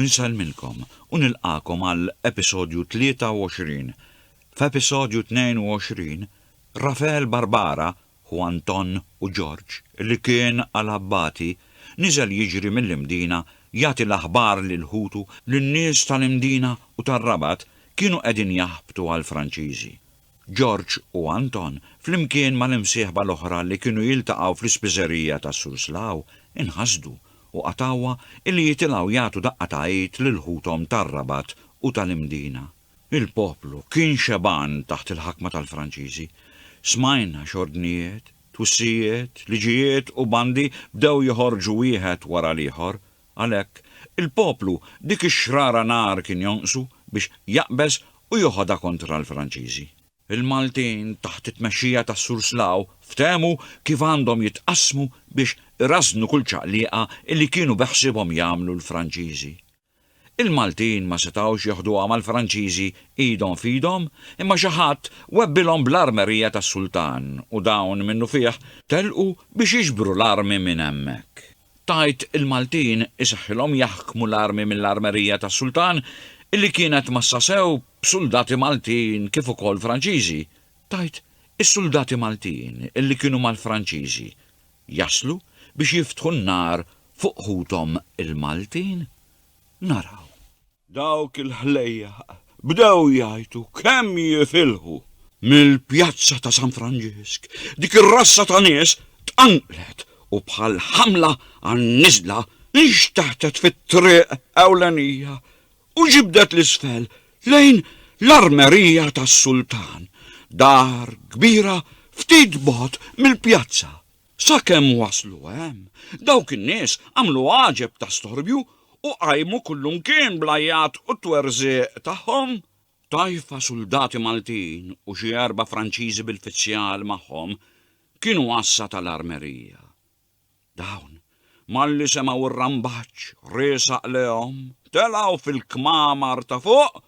Nsellmilkom u nilqagħkom għal episodju 23. F'episodju 22, Rafael Barbara, ħu Anton u George, li kien għal abbati, niżel jiġri mill-Imdina jagħti l-aħbar lil ħutu li n-nies tal-Imdina u tar-Rabat kienu qegħdin jaħbtu għall-Franċiżi. George u Anton, flimkien mal-imsieħba l-oħra li kienu jiltaqgħu fl-ispiżerija ta' Suslao, inħasdu u qatgħuha illi jitilgħu jagħtu daqqa ta' għid lil ħuthom tar-Rabat u tal-Imdina. Il-poplu kien xebgħan taħt il-ħakma tal-Franċiżi. Smajna x'ordnijiet, twissijiet, liġijiet u bandi bdew joħorġu wieħed wara l-ieħor, Għalhekk, il-poplu dik ix-xrara nar kien jonqsu biex jaqbeż u joħodha kontra l-Franċiżi. Il-Maltin, taħt it-tmexxija tas-Sur Slaw, ftehmu kif għandhom jitqassmu biex irażżnu kull ċaqliqa li kienu beħsiebhom jagħmlu l-Franċiżi. Il-Maltin ma setgħux jeħduha mal-Franċiżi idhom f'idhom, imma xi ħadd webbilhom bl-armerija tas-Sultan u dawn minnufih telqu biex jiġbru l-armi minn hemmhekk. tgħid il-Maltin isaħħilhom jaħkmu l-armi mill-armerija tas-Sultan illi kienet mgħassa sew b'suldati Maltin kif ukoll Franċiżi, tgħid is-suldati Maltin illi kienu mal-Franċiżi jaslu biex jiftħu n-nar fuq ħuthom il-Maltin? Naraw. Dawk il-ħlejjaq bdew jgħajtu kemm jifilħu. Mill-pjazza ta' San Franġisk, dik ir-rassa ta' nies tqanqlet u bħal ħamla għan-niżla nxteħtet fit-triq ewlenija u ġibdet 'l isfel lejn l-armerija tas-sultan, dar kbira ftit bogħod mill-pjazza. Sakemm waslu hemm, dawk in-nies għamlu għaġeb ta' storbju u qajmu kullimkien bl-għajjat u t-twerżiq tagħhom. Tajfa suldati Maltin u xi erba' Franċiżi bil-fizzjal magħhom kienu għassa tal-armerija. Dawn Malli semgħu r-rambaġġ riesaq lejhom, telgħu fil-kmamar ta' fuq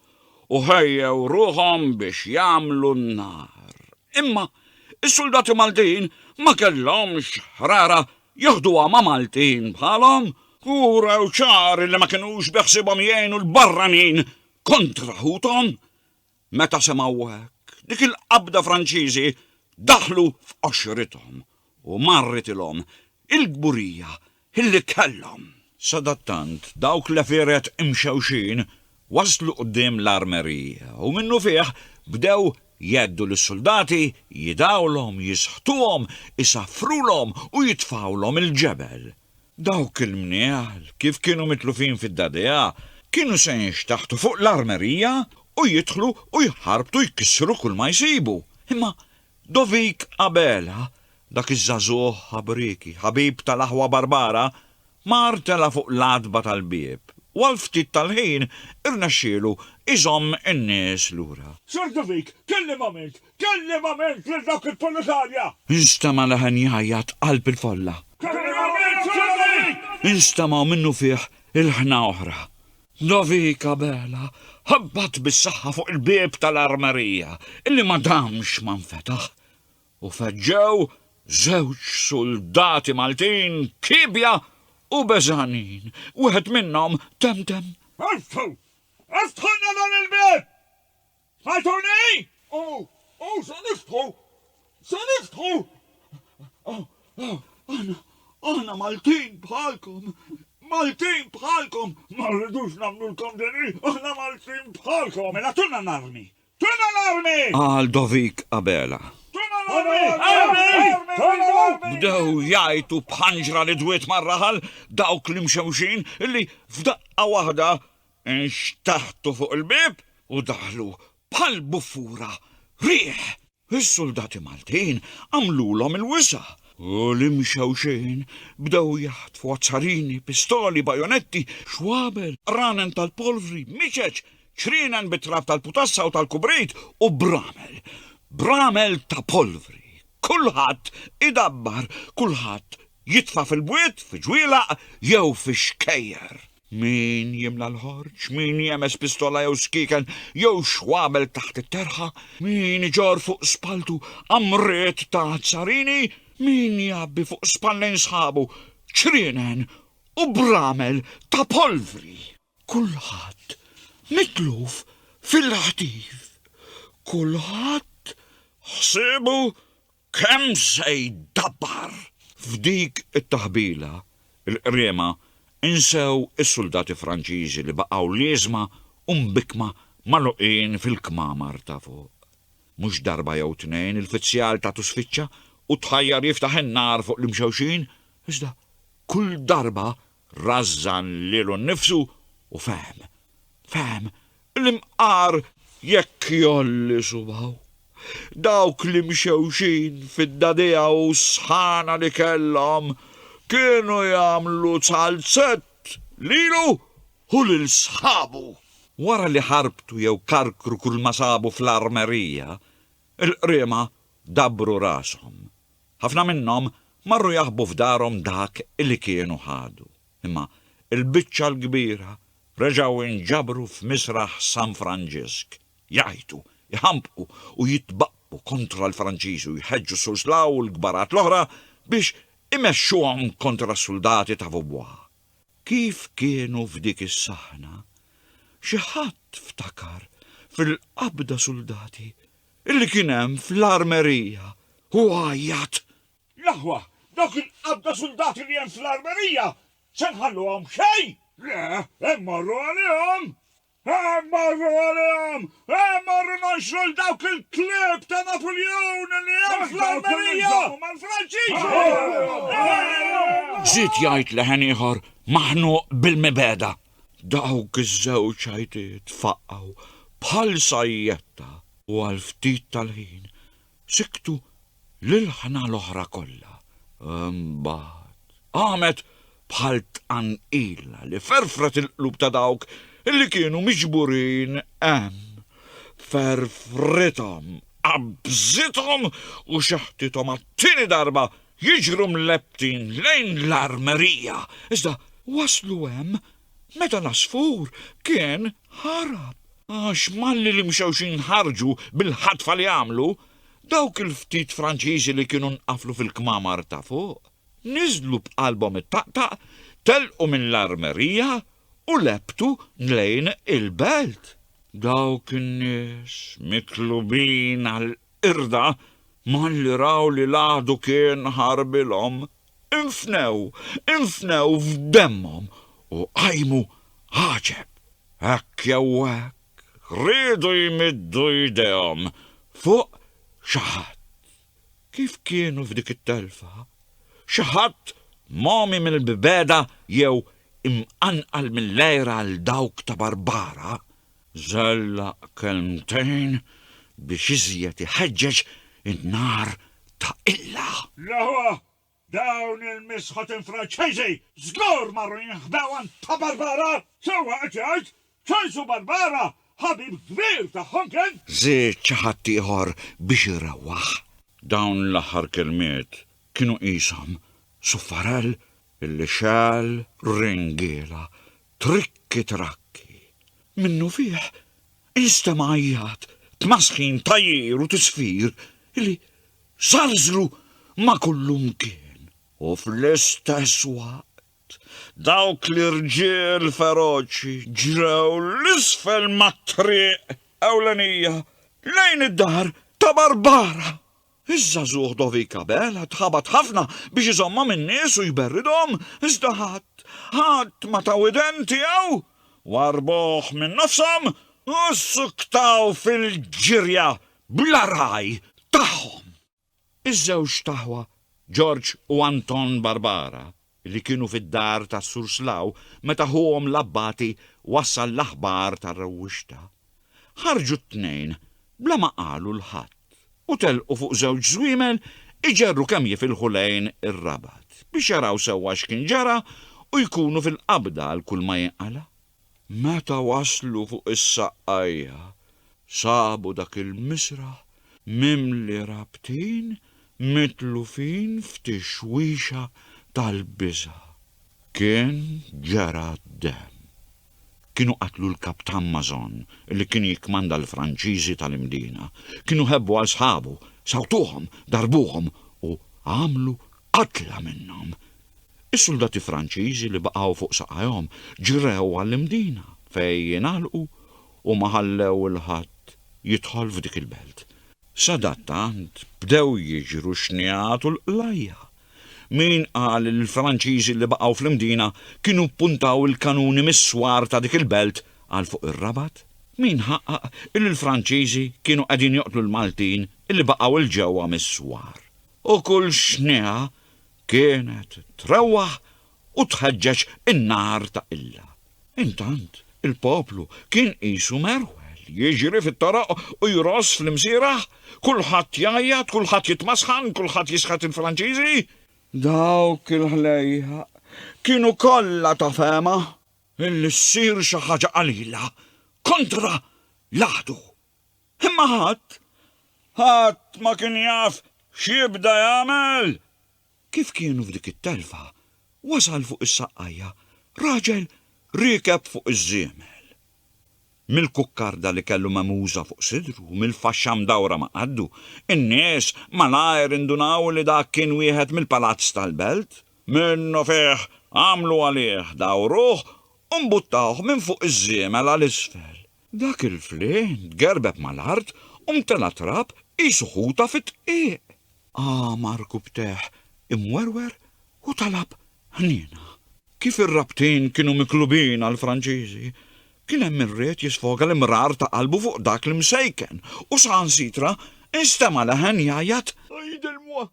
u ħejjew ruħhom biex jagħmlu n-nar. Imma s-suldati Maltin ma kellhomx ħrara jaħduha ma' Maltin bħalhom u wrew ċar li ma kinux beħsiebhom jgħinu l-barranin kontra ħuthom. Meta semgħu hekk, dik il-qabda Franċiżi daħlu f'qoxrithom u marritilhom il-kburija li kellhom. Sadattant, dawk l-għefieret imxewxin waslu quddiem l-armerija u minnufih bdew jgħeddu lis-suldati jidgħulhom, jisħtuhom, isaffrulhom u jitfgħulhom il-ġebel. Dawk il-mnieħl, kif kienu mitlufin fid-dadea, kienu se jinxtaħtu fuq l-armerija u jidħlu u jħarbtu jkissru kull ma jsibu. Imma Dovik Abela, dak iż-żagħżugħ ħabrieki, ħabib tal-aħwa Barbara, mar tela' fuq l-għatba tal-bieb u għal ftit tal-ħin irnexxielu jżomm in-nies lura. Sir Dovik, kellimhom int! Kellimament lil dawk il-Polikarja. Instema' leħen jgħajjat qalb il-folla. Kellimament ċ-ċavalli. Instemgħu minnufih il-ħna oħra. Lovika Bela ħabbat bis-saħħa fuq il-bieb tal-armerija, illi ma damx ma nfetaħ, u feġġew żewġ suldati Maltin kiebja u beżgħanin. Wieħed minnhom temtem. Iftħu! Iftħulna dan il-bieb! Għajtuni! O, o, se niftħu! Se niftħu! O, o, aħna, aħna Maltin bħalkom, Maltin bħalkom! Ma rridux nagħmlulkom din hi, aħna Maltin bħalkom! Mela tuna l-armi! Tuna l-armi! Qal Dovik Abela. Tuna l-armi! Armi! Tuna l-armi! Bdew jgħajtu b'ħanġra li dwiet mar-raħal dawk l-imxewxin illi f'daqqa waħda Nxtaħtu fuq il-bieb u daħlu bħal bufura riħ. Is-suldati Maltin għamlulhom il-wisa' u l-Imxewxin bdew jaħtfu azzarini, pistoli, bajonetti, xwabel, qranen tal-polvri, miċeċ, ċrienen bit-trab tal-putassa u tal-kubrit u bramel. Bramel ta' polvri. Kulħadd idabbar, kulħadd jitfa' fil-bwiet, fi ġwielaq jew fix-xkejjer. Min jimla l-ħorġ, min jemes pistola jew skieken jew xwabel taħt it-terħa, min iġorr fuq spalltu qamriet ta' azzarini, min jgħabbi fuq spallejn sħabu ċrienen u bramel ta' polvri. Kulħadd mitluf fil-ħtif. Kulħadd ħsiebu Kemm se jdabbar! F'dik it-taħbila, il-qriema insew is-suldati Franċiżi li baqgħu lieżma u mbikkma magħluqin fil-kmamar ta' fuq. Mhux darba jew tnejn il-fizzjal tagħtu sfiċċa u tħajjar jiftaħ in-nar fuq l-imxewxin, iżda kull darba rażżan lilu nnifsu u fehem, fehem li mqar jekk jgħolli subgħu, dawk li mxewxin fid-dagħdigħa u s-sħana li kellhom kienu jagħmlu ċalzett lilu u lil sħabu. Wara li ħarbtu jew karkru kulma sabu fl-armerija, il-qriema dabbru rashom Ħafna minnhom marru jaħbu f'darhom dak li kienu ħadu, imma l-biċċa l-kbira reġgħu inġabru f'misraħ San Franġisk, jgħajtu, jħampqu u jitbaqqbu kontra l-Franċiżi u jħeġġu s-Surslaw u l-kbarat l-oħra biex imexxuhom kontra s-suldati ta' Vaubois. Kif kienu f'dik is-saħna, xi ħadd ftakar fil-qabda suldati Illi kien hemm fl-armerija u għajjat. L-aħwa, dawk il-qadda suldati li hemm fl-armerija se nħalluhom xejn! Le, immorru għalihom! Immorru għalihom! Immorru nonxru 'l dawk il-klieb ta' Napuljun li hemm fl-armerija! Dawk iżommu mal-Franċiżi! Żied jgħid leħen ieħor maħnuq bil-mibegħda. Dawk iż-żewġ għajtiet faqgħu bħal sajjetta u għal ftit tal-ħin siktu l-ilħna l-oħra kollha. Imbagħad qamet bħal tqanqila li ferfret il-qlub ta' dawk li kienu miġburin hemm. Ferfrithom, qabżithom u xeħtithom għat-tieni darba jiġru mlebbtin lejn l-armerija, iżda waslu hemm meta l-għasfur kien ħarab. Għax malli l-imxewxin ħarġu bil-ħatfa li għamlu, dawk il-ftit Franċiżi li kienu nqaflu fil-kmamar ta' fuq, niżlu b'qalbhom ittaqtaq, telqu mill-armerija u lebbtu lejn il-belt. Dawk in-nies, mitlubin għal Qirda, malli raw li l-għadu kien ħarbilhom, infnew, infnew f'demmhom u qajmu għaġeb. Hekk jew hekk, riedu jmiddu jdejhom fuq xi ħadd. Kif kienu f'dik it-telfa? Xi ħadd mogħmi mill-bibeda jew imqanqal mill-għira għal dawk ta' Barbara? żellaq kelmtejn biex iżjed iħeġġeġ in-nar ta' qilla. L-aħwa! Dawn il-misħotin Franċiżi żgur marru jinħbew għand ta' Barbara! Sewwa qed jgħid, Ċensu Barbara ħabib kbir tagħhom kien! Żied xi ħadd ieħor biex irewwaħ. Dawn l-aħħar kelmiet kienu qishom suffarell illi xegħel ringiela Trikki trakki. Minnufih instema' għajjat, tmasħin, tgħajjir u tisfir li żalżlu ma' kullimkien. U fl-istess waqt, dawk l-irġiel feroċi ġrew 'l isfel mat-triq ewlenija lejn id-dar ta' Barbara. Iż-żagħżugħ Dovik Abel għad ħabat ħafna biex iżommha min-nies u jberridhom, iżda ħadd, ħadd ma ta widen tiegħu. Warrbuh minn nofshom u ssuktaw fil-ġirja bla ragħaj tagħhom. Iż-żewġt aħwa George u Anton Barbara li kienu fid-dar tas-Sur Slaw meta ħuhom l-Abbati wassal l-aħbar tar-rewwixta. Ħarġu t-tnejn bla ma qalu 'l ħadd u telqu fuq żewġ żwiemel iġerru kemm jifilħu lejn ir-Rabat biex jaraw sewwa x'kien ġara u jkunu fil-qabda għal kulma jinqala'. Meta waslu fuq is-saqqajja, sabu dak il-misraħ mimli rabtin mitlufin f'tixwixa tal-biża'. Kien ġera d-demm. Kienu qatlu l-Kaptan Mason li kien jikkmanda l-Franċiżi tal-Imdina. Kienu ħebbu għal sħabu, sawtuhom, darbuhom u għamlu Qatla minnhom, is-suldati Franċiżi li baqgħu fuq saqajhom ġrew għall-Imdina fejn ingħalqu u ma ħallew 'il ħadd jidħol f'dik il-belt. Sadattant bdew jiġru x-xnigħat u l-qlajja. Min qal li l-Franċiżi li baqgħu fl-Imdina kienu ppuntaw il-kanuni mis-swar ta' dik il-belt għal fuq ir-Rabat? Min ħaqqaq li l-Franċiżi kienu qegħdin joqtlu l-Maltin li baqgħu 'l ġewwa mis-swar? u kull xniegħa kienet trewwaħ u tħeġġeġ in-nar ta' Illa. Intant, il-poplu kien qisu merwel, jiġri fit-toroq u jrożż fl-imsierah, kulħadd jgħajjat, kulħadd jitmasħan, kulħadd jisħet il-Franċiżi. Dawk il-ħlejjaq kienu kollha ta' fehma illi ssir xi ħaġa qalila kontra l-għadu. Imma ħadd, ħadd ma kien jaf x'jibda jagħmel! Kif kienu f'dik it-telfa, wasal fuq is-saqqajja raġel riekeb fuq iż-żiemel. Mill-kukkarda li kellu megħmuża fuq sidru u mill-faxxa mdawra ma' qaddu, in-nies malajr indunaw li dak kien wieħed mill-palazz tal-belt. Minnufih għamlu għalih, dawruh u mbuttawh minn fuq iż-żiemel għal isfel. Dak il-flieh tgerbeb mal-art u mtela' trab qisu ħuta fid-dqiq. Għamar kubteh imwerwer u talab ħniena. Kif ir-rabtin kienu miklubin għall-Franċiżi, kien hemm min ried jisfoga l-imrar ta' qalbu fuq dak l-imsejken u saħansitra nstema' leħen jgħajjat, Għidilmuh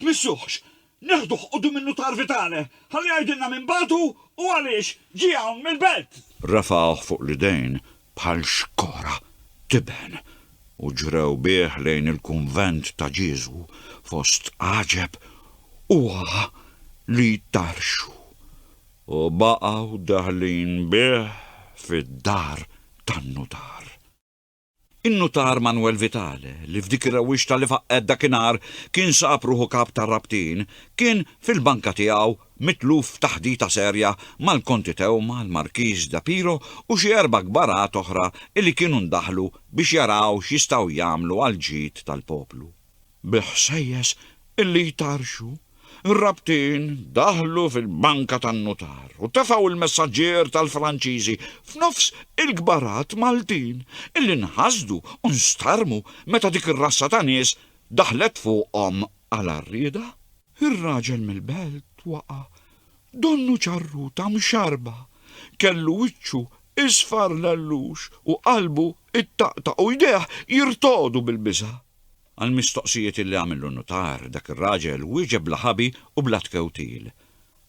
Tmissuhx! Neħduh quddiem in-nutar Vitale, ħalli jgħidilna min bagħtu u għaliex ġie hawn mill-belt! Rafgħuh fuq l-idejn bħal xkora tiben u ġrew bih lejn il-kunvent ta' Ġieżu fost għaġeb u għagħa li jtarrxu, u baqgħu daħlin bih fid-dar tan-nutar. Innutar Manwel Vitale, li f'dik ir-rewwixta li faqqgħet dakinhar kien sab ruħu kap tar-rabtin, kien fil-banka tiegħu mitluf f'taħdita serja mal-Konti Theuma, l-Markiż de Piro u xi erba' kbarat oħra illi kienu ndaħlu biex jaraw x'jistgħu jagħmlu għall-ġid tal-poplu. Bil-ħsejjes illi jtarrxu, ir-rabtin daħlu fil-banka tan-nutar u tefgħu l-messaġġier tal-Franċiżi f'nofs il-kbarat Maltin illi nħasdu u nstarrmu meta dik ir-razza ta' nies daħlet fuqhom għal għarrieda. Ir-raġel mill-belt waqa', donnu ċarruta mxarrba, kellu wiċċu isfar l-għellux u qalbu ittaqtaq u jdejh jirtogħdu bil-biża'. Għall-mistoqsijiet illi għamillu n-nutar, dak ir-raġel wieġeb bla ħabi u bla tkewtil.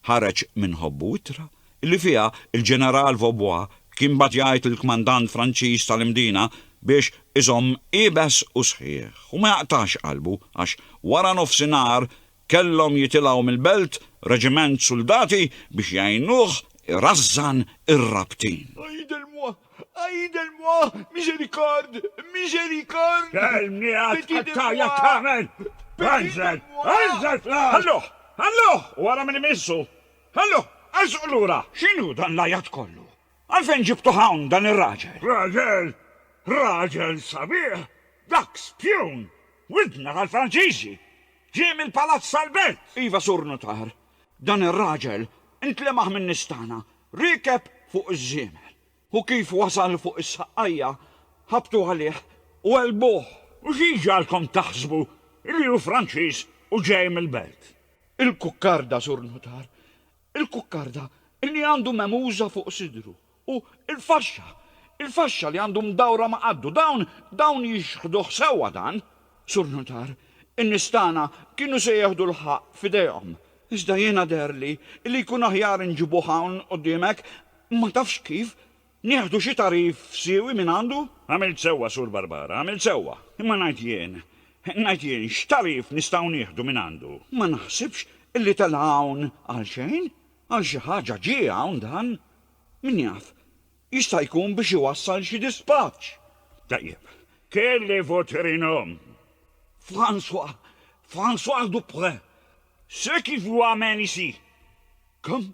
Ħareġ minn ħobbu ittra illi fiha l-Ġeneral Vaubois kien bagħat jgħid lill-Kmandant Franċiż tal-Imdina biex iżomm iebes u sħiħ u ma jaqtax qalbu għax waranofsinhar Kellhom jitilgħu mill-belt reġiment suldati biex jgħinuh irażżan ir-rabtin. Aide-moi! Aide-moi! Misericorde! Misericorde! X'għel miegħek tqattagħja tagħmel? Enżel! Enżel fl-art! Ħalluh! Ħalluh! U ara min imissu! Ħalluh! Ersqu lura! X'inhu dan l-għajat kollu? Għalfejn ġibtuh hawn dan ir-raġel? Raġel? Raġel sabiħ? Dak spjun! Widna tal-Franċiżi! Ġie mill-palazz tal-belt! Iva, Sur Nutar. Dan ir-raġel intlemaħ min-nies tagħna, riekeb fuq iż-żiemel. U kif wasal fuq is-saqqajja, ħabtu għalih u għelbuh. U xi ġagħalkom taħsbu li hu Franċiż u ġej mill-belt? Il-kukkarda, Sur Nutar. il-kukkarda li għandu memuża fuq sidru u l-faxxa, il-faxxa li għandu mdawra ma' qaddu, dawn, dawn jixħduh sewwa dan, Sur Nutar, in-nies tagħna kienu se jieħdu l-ħaqq f'idejhom, iżda jiena deherli li jkun aħjar inġibuh hawn quddiemek, ma tafx kif, Nieħdu xi tagħrif siewi mingħandu? Għamilt sewwa, Sur Barbara, għamilt sewwa. Imma ngħid jien, ngħid jien, x'tagħrif nistgħu nieħdu mingħandu? Ma naħsibx illi tela' hawn għalxejn. Għal xi ħaġa ġie hawn dan. Min jaf, jista' jkun biex iwassal xi dispaċċ. Tajjeb. Kelli votre nom? François. François Duprez. Ce qui vous amène ici? Comme?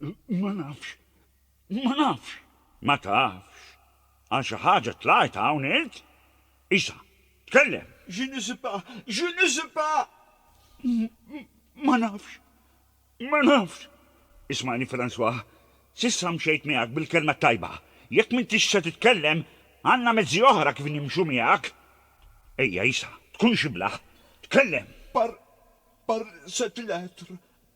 Ma nafx. Ma nafx. Ma tafx? Għal xi ħaġa tlajt hawn int? Isa, tkellem! Je ne sais pas. Je ne sais pas. Ma nafx. Ma nafx. Ismagħni François, s'issa mxejt miegħek bil-kelma t-tajba. Jekk m'intix se titkellem, għandna mezzi oħra kif nimxu miegħek. Ejja Isa, tkun xibla. Tkellem! Par, par cette lettre,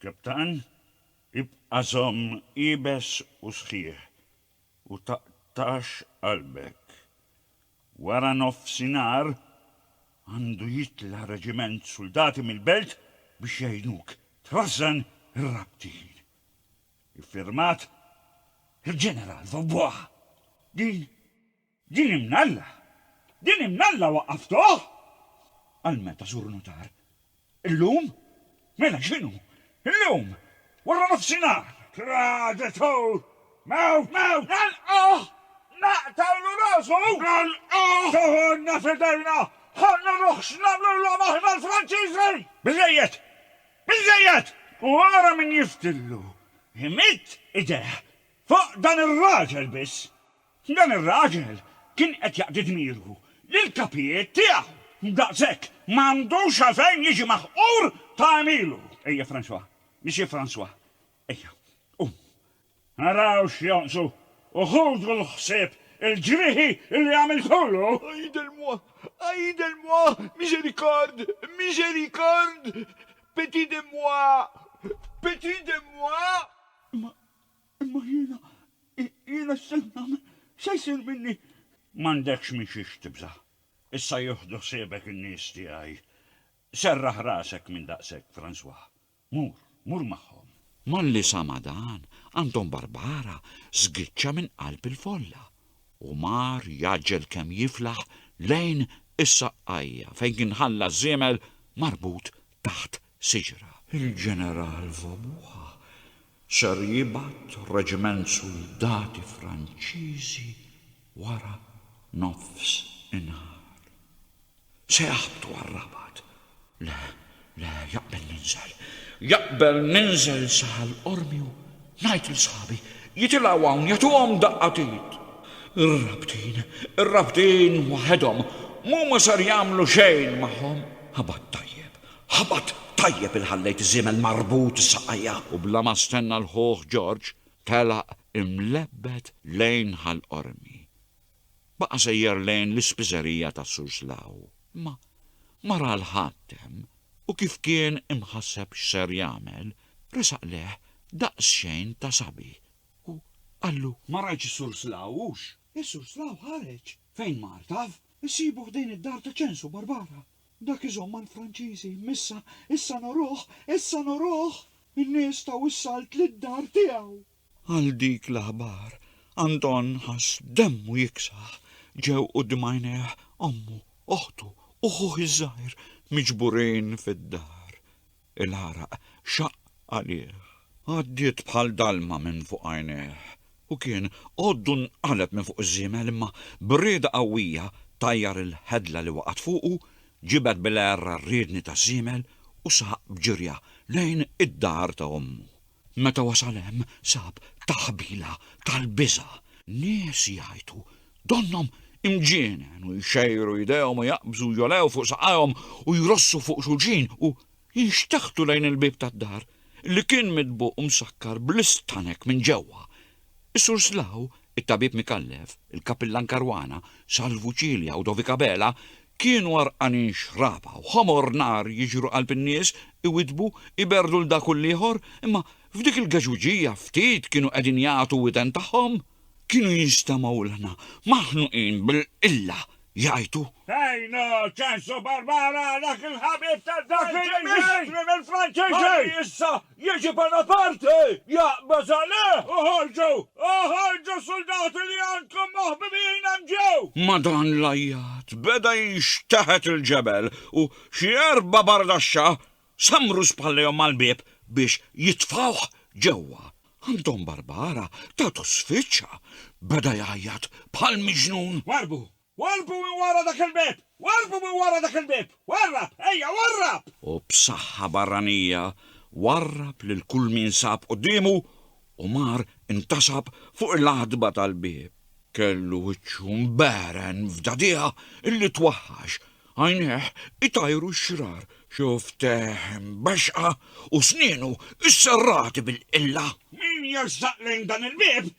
Kaptan, ibqa' żomm iebes u sħiħ u taqtax qalbek. Wara nofsinhar għandu jitla' reġiment suldati mill-belt biex jgħinuk trażżan ir-rabtin. Iffirmat, Il-Ġeneral Vaubois. Din. Din imnalla! Din imnalla waqqaftuh! Għal meta, Sur Nutar? Illum? Mela x'inhu? Illum! Waranofsinhar! Traditur! Mewt! Mewt! Nagħlquh! Naqtgħulu rasu! Nagħlquh! Toħodna f'idejna! Ħa nuruh x'nagħmlulhom aħna l-Franċiżi! Biżżejjed! Biżżejjed! U ara min jiftillu! Imidd idejh fuq dan ir-raġel biss! Dan ir-raġel kien qed jaqdi dmiru li l-kapijiet tiegħu, daqshekk, ma għandux għalfejn jiġi maħqur ta' għemilu. Ejja, François, Missier François, ejja, qum. Naraw x'jonqsu u ħudu l-ħsieb il-ġrieħi li għamiltulu! Aide-moi! Aide-moi! Misericorde! Misericorde! Petit de moi! Petit de moi! Imma Imma jiena, jiena x'se nagħmel? X'se jsir minni? M'għandekx minn xiex tibża'. Issa jieħdu ħsiebek in-nies tiegħi. Serraħ rasek minn daqshekk, François. Mur, mur magħhom. Malli sama' dan, Anton Barbara żgiċċa minn qalb il-folla u mar jgħaġġel kemm jiflaħ lejn is-saqqajja fejn kien ħalla ż-żiemel marbut taħt siġra. Il-Ġeneral Wobua Ser jibgħat reġiment suldati Franċiżi wara nofs inhar. Se jaħbtu għar-Rabat. Le, le, jaqbel ninżel. Jaqbel ninżel Saħal Qormi u ngħid 'il sħabi jitilgħu hawn jagħtuhom daqqa t'id. Ir-Rabtin, ir-Rabtin waħedhom, m'huma ser jagħmlu xejn magħhom. Ħabat tajjeb, Ħabat tajjeb il ħallejt żiemel marbut saqajja. U bla ma stenna l ħuh Ġorġ telaq imlebbed lejn Ħal Qormi. Baqa sejjer lejn l ispiżerija ta' Suslaw. Imma ma ra l ħadd hemm u kif kien imħasseb x ser jagħmel resaq lejh daqs xejn ta' sabi u qallu. Ma rajtx is Surslaw hux? Is Surslaw ħareġ. Fejn mar taf? Issibu ħdejn id dar ta' Ċensu Barbara. Dak iżomm għand Franċiżi, Missa, issa nuruh, issa nuruh! In-nies taw is-salt lid-dar tiegħu. Għal dik l-aħbar, Anton ħass demmu jiksaħ. Ġew quddiem għajnejh ommu, oħtu, u ħuh iż-żgħir miġburin fid-dar. Il-għaraq xaqq għalih. Għaddiet bħal dalma minn fuq għajnejh. Hu kien għoddu nqaleb minn fuq iż-żiemel imma b'rieda qawwija tajjar il-ħedla li waqgħet fuqu, ġibed bil-għerra r-riedni taż-żiemel u saq b'ġirja lejn id-dar ta' ommu. Meta wasal hemm sab taħbila tal-biża'. Nies jgħajtu, donnhom imġienen u jxejru jdejhom u jaqbżu u jgħolew fuq saqajhom u jrossu fuq xulxin u jinxteħtu lejn il-bieb tad-dar, li kien mitbuq u msakkar bl-istanek minn ġewwa. Is-Sur Slaw It-tabib Micallef, il-kapillan Caruana, Salvu Cilia u Dovik Abela kienu għarqanin xraba u ħomor nar jiġru qalb in-nies, iwiddbu, iberrdu 'l dak u 'l ieħor, imma f'dik il-geġwiġija ftit kienu qegħdin jagħtu widen tagħhom. Kienu jinstemgħu ilħna maħnuqin bil-qilla jgħajtu. Tajno ċansu Barbara dak il-ħabib ta' dak il-ministri mill-Franċiżi malli issa jiġi Bonaparte jaqbeż għalih! Oħorġu! Oħorġu suldati li għandkom moħbibin hemm ġew! Ma' dan l-għajjat beda jinxteħet il-ġebel u xi erba' bardaxxa Sammru spallejhom mal-bieb biex jitfgħuh ġewwa. Anton Barbara tatu sfiċċa, beda jgħajjat bħal miġnun. Warrbu! Warrbu minn wara dak il-bieb! Warrbu minn wara dak il-bieb! Warrab! Ejja, warrab! U b'saħħa barranija warrab lil kull min sab quddiemu u mar intasab fuq il-għatba tal-bieb. Kellu wiċċu mbegħren f'dagħdigħa li twaħħax Għajnejh itajru x-xrar, xufftejh imbaxxqa u snienu sserrati bil-qilla. Min jersaq lejn dan il-bieb,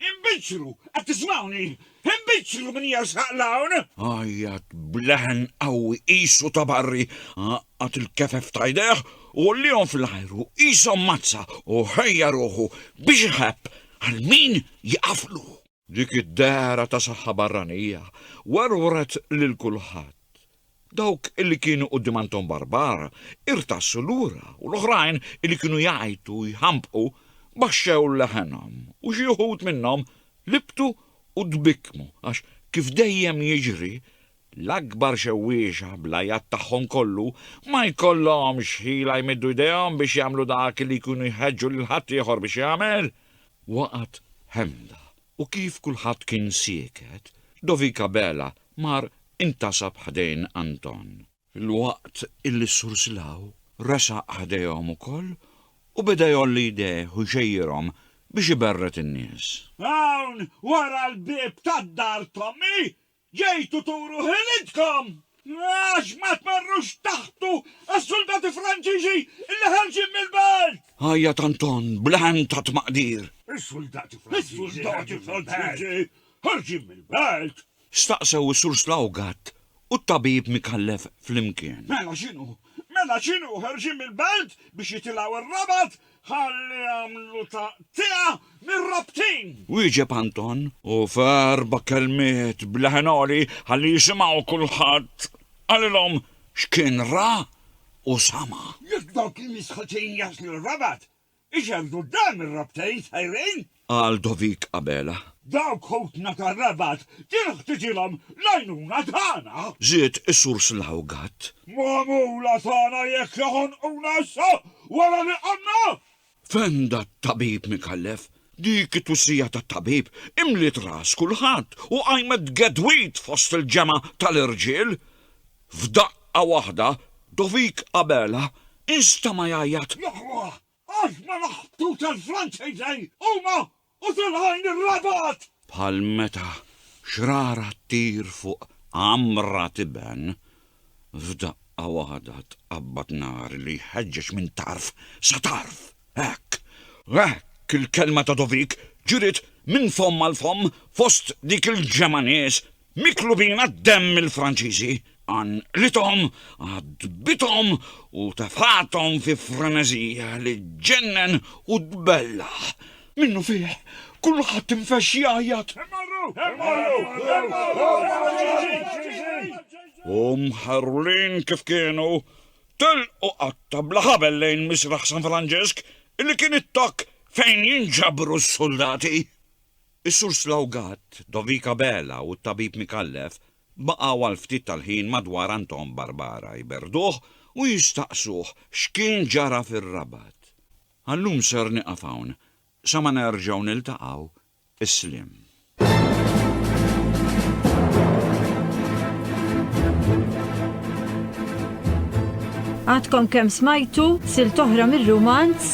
inbiċċru! Qed tismgħuni? Inbiċċru min jersaq 'l hawn! Għajjat b'leħen qawwi qisu ta' barri, għaqqad il-kefef ta' jdejh u għolliehom fl-ajru qishom mazza u ħejja ruħu biex iħebb għal min jieqaflu. Dik id-dehra ta' saħħa barranija werwret lil kulħadd. Dawk li kienu quddiem Anton Barbara irtassu lura u l-oħrajn li kienu jgħajtu u jħampqu baxxew leħenhom u xi wħud minnhom libtu u tbikkmu għax kif dejjem jiġri L-akbar xewwiexa, bl-għajat tagħhom kollu, ma jkollhomx ħila jmiddu jdejhom biex jagħmlu dak li jkunu jħeġġu lil ħaddieħor biex jagħmel. Waqgħet ħemda, u kif kulħadd kien sieket, Dovika Bela mar intasab ħdejn Anton. Filwaqt illi s-Sur Slaw resaq ħdejhom ukoll u beda jgħolli jdejh u jxejjirhom biex iberred in-nies. Hawn wara l-bieb tad-dar t'ommi Ġejtu turu ħilitkom! Għax ma tmerrux taħbtu għas-suldati Franċiżi illi ħarġin mill-belt! Għajjat Anton bl-għen ta' tmaqdir. Is-suldati Franċiżi ħarġin mill-belt! Staqsew is-Sur Slawgat u t-tabib Micallef flimkien. Mela x'inhu? Mela x'inhu? Ħarġin mill-belt biex jitilgħu r-Rabat? Ħalli jagħmlu taqtiegħa mir-rabtin! Wieġeb Anton. U f'erba' kelmiet b'leħen għoli ħalli jisimgħu kulħadd, qalilhom x'kien ra u sama'. Jekk dawk il-misħutin jaslu r-Rabat, ixerrdu quddam ir-rabtejn sejrin. Qal Dovick Abela. Dawk ħutna tar-Rabat kien ħtiġilhom l-għajnuna tagħna! Żied is-Sur Slaw Gatt. Magħmula tagħna jekk joħonquna issa wara li qamna! Fenda t-Tabib Micallef. Dik it-twissija tat-Tabib imliet ras kulħadd u qajmet gedwid fost il-ġemgħa tal-irġiel. F'daqqa waħda Dovick Abela instema' jgħajjat. Jaħwah! Għax ma naħbtux għall-Franċiżej huma u tal-għajn ir-rabat! Bħal meta xrara ttir fuq għamra tiben, f'daqqa waħda tqabbad nar li jħeġġeġ minn tarf sa tarf! Hekk! Hekk il-kelma ta' Dovik ġriet minn fomm għal fomm fost dik il-ġemgħa nies Miklubina d-demm il-Franċiżi, għanqlithom, għadbithom u tefgħathom fi freneżija li ġġennen u tbellaħ. Minnu fih, kulħadd infexx jgħajjat. Immorru! Immorru! Immorru l-Franċiżi! U mħarrulin kif kienu, telqu qatta bla ħabel lejn Misraħ San Franġisk, li kien it-tokk fejn jinġabru s-suldati. Is-Sur Slawgat, Dovik Abela u t-Tabib Micallef baqgħu għal ftit tal-ħin madwar Anton Barbara jberrduh u jistaqsuh x'kien ġara fir-Rabat. Għal-lum ser nieqaf hawn, sa ma nerġgħu niltaqgħu, is-sliem. Għadkom kemm smajtu silta oħra mir-rumanz